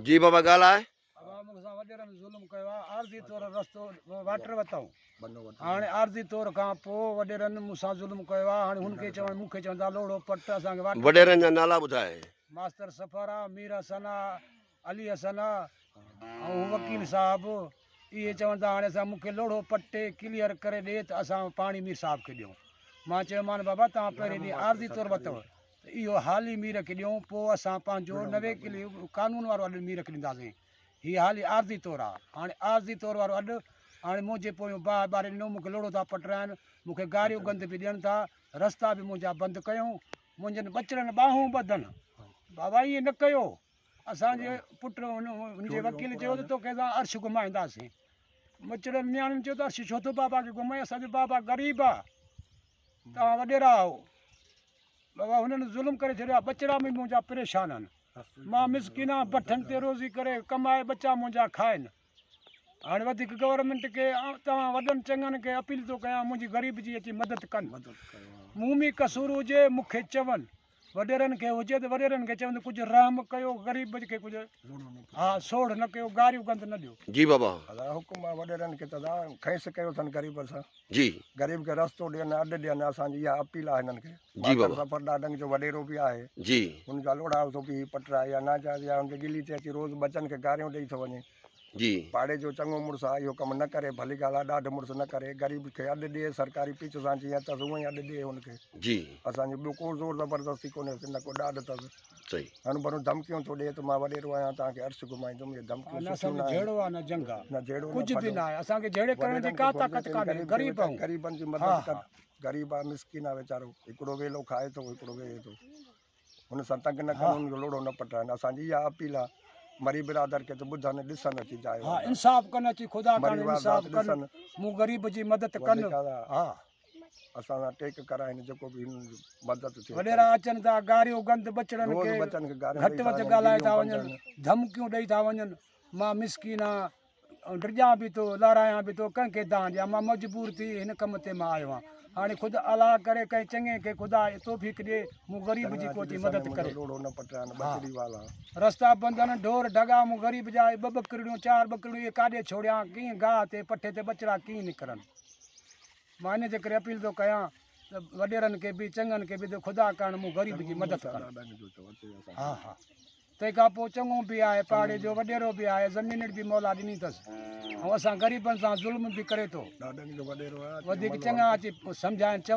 جي بابا ڳالهاء. ابا مون سان وڏيرن ظلم ڪيو آ عارضي طور رستو واٽر وتائون هاڻي عارضي طور کان پو وڏيرن مون سان ظلم ڪيو آ هاڻي هن کي چوڻ مون کي چوندا لوڙهو پٽ اسان کي واٽر وڏيرن جا نالا ٻڌاء. ماستر سفر آ مير حسن آ علي حسن آ ۽ وڪيل صاحب اهي چون ته هاڻي اسان مون کي لوڙهو پٽي ڪليئر ڪري ڏي ته اسان پاڻي مير صاحب کي ڏيون مان چيو مان بابا توهان پهرين ڏينهن عارضي طور وتو ته اهو حالي مير کي ڏيون، پوء اسان پنهنجو نوي ڪلي قانون وارو اڏ مير کي ڏينداسين. هي حالي عارضي طور آ. هاڻي عارضي طور وارو اڏ، هاڻي منهنجي پويون باهه ٻاري ڏنو، مون کي لوڙهو ٿا پٽرائن، مون کي گاريو گند به ڏين ٿا، رستا به منهنجا بند ڪيون، منهنجن ٻچڙن ٻانهون ٻڌن، بابا ائين نه ڪيو، اسان جي پٽ هن جي وڪيل چيو ته توکي اسان عرش گهمائينداسين، ٻچڙن نياڻين چيو ته عرش ڇو ٿو بابا کي گهمائين، اسان جو بابا غريب آ. توهان وڏيرا آهو. بابا هنن ظلم ڪري ڇڏيو آهي. ٻچڙا به منهنجا پريشان آهن. مان مسڪين آهيان بٺن تي روزي ڪري ڪمائي ٻچا منهنجا کائن. هاڻي وڌيڪ گورنمينٽ کي ۽ توهان وڏن چڱن کي اپيل ٿو ڪيان منهنجي غريب جي اچي مدد ڪن. مون ۾ قصور هجي مون کي چون. وڏيرن کي هجي ته وڏيرن کي چوندو ڪجهه رحم ڪيو غريب کي ڪجهه ها سوڙ نه ڪيو گاريون گند نه ڏيو. جي بابا. ادا حڪم آ وڏيرن کي ته ادا خيس ڪيو اٿن غريب سان. جي. غريب کي رستو ڏين اڏ ڏين اسان جي اها اپيل آ هنن کي. جي بابا. ظفر ڏاڏنگ جو وڏيرو به آهي. جي. هن جا لوڙها اٿو پي هي پٽ آهي يا ناجائز يا هن جي ڳلي تي اچي روز ٻچن کي گاريون ڏئي ٿو وڃي. جي. پاڙي جو چڱو مڙس آ اهو ڪم نه ڪري ڀلي ڳالهه آ ڏاڍ مڙس نه ڪري غريب کي اڏ ڏي سرڪاري پچ سان جيئن اٿس اونئن اڏ ڏي هن کي جي اسان جو ٻيو ڪو زور زبردستي ڪونهي سي نه ڪو ڏاڍ اٿس صحيح هن ڀرون ڌمڪيون ٿو ڏي ته مان وڏيرو آهيان توهان کي عرش گهمائيندم اهي ڌمڪيون نه سٺيون اسان جو ناهن جهيڙو آ نه جنگ آ نه جهيڙو نه ڪجهه به ڦڏو ناهي اسان کي جهيڙي ڪرڻ جي وڏيرن ڪا کي گهرجي طاقت ته هن ڪانهي غريب کي غريب ويچاري آهيون غريبن جي ها مدد ها ڪر غريب آ مسڪين آ ويچارو هڪڙو ويلو کائي ٿو هڪڙو ويهي ٿو هن سان تنگ نه ڪن هن جو لوڙهو نه پٽائن اسان جي اها اپيل آهي مري برادر کي ته ٻڌن ڏسن اچي جاء ها انصاف ڪن اچي خدا ڪرڻ انصاف ڪن مون غريب جي مدد ڪن ها اسان سان ٽيڪ ڪرائين جيڪو به هن جو مدد ٿي وڏيرا اچن ٿا گاريو گند بچڙن کي گهٽ وڌ ڳالهائي ٿا وڃن ڌمڪيون ڏئي ٿا وڃن مان مسڪين آهيان آئون ڊڄان به ٿو لارائيان به ٿو ڪنهن کي دان ڏيان مان مجبور ٿي هن ڪم تي مان آيو آهيان هاڻي خود الا ڪري ڪنهن چڱي کي خدا توفيق ڏي مون غريب جي ڪوتي مدد ڪري رستا بندن ڍور ڍڳا مون غريب جا ٻه ٻڪرڙيون چار ٻڪرڙيون اهي ڪاڏي ڇوڙيان ڪيئن گاهه تي پٺي تي ٻچڙا ڪيئن نڪرن مان ان جي ڪري اپيل ٿو ڪيان ته وڏيرن کي به چڱن کي به خدا ڪرڻ مون غريب جي مدد ڪرڻ تنهن کان پوء چڱو به آهي، پاڙي جو وڏيرو به آهي، زمينڙ به مولا ڏني اٿس ۽ اسان غريبن سان ظلم به ڪري ٿو. وڌيڪ چڱا اچي سمجهائين چون.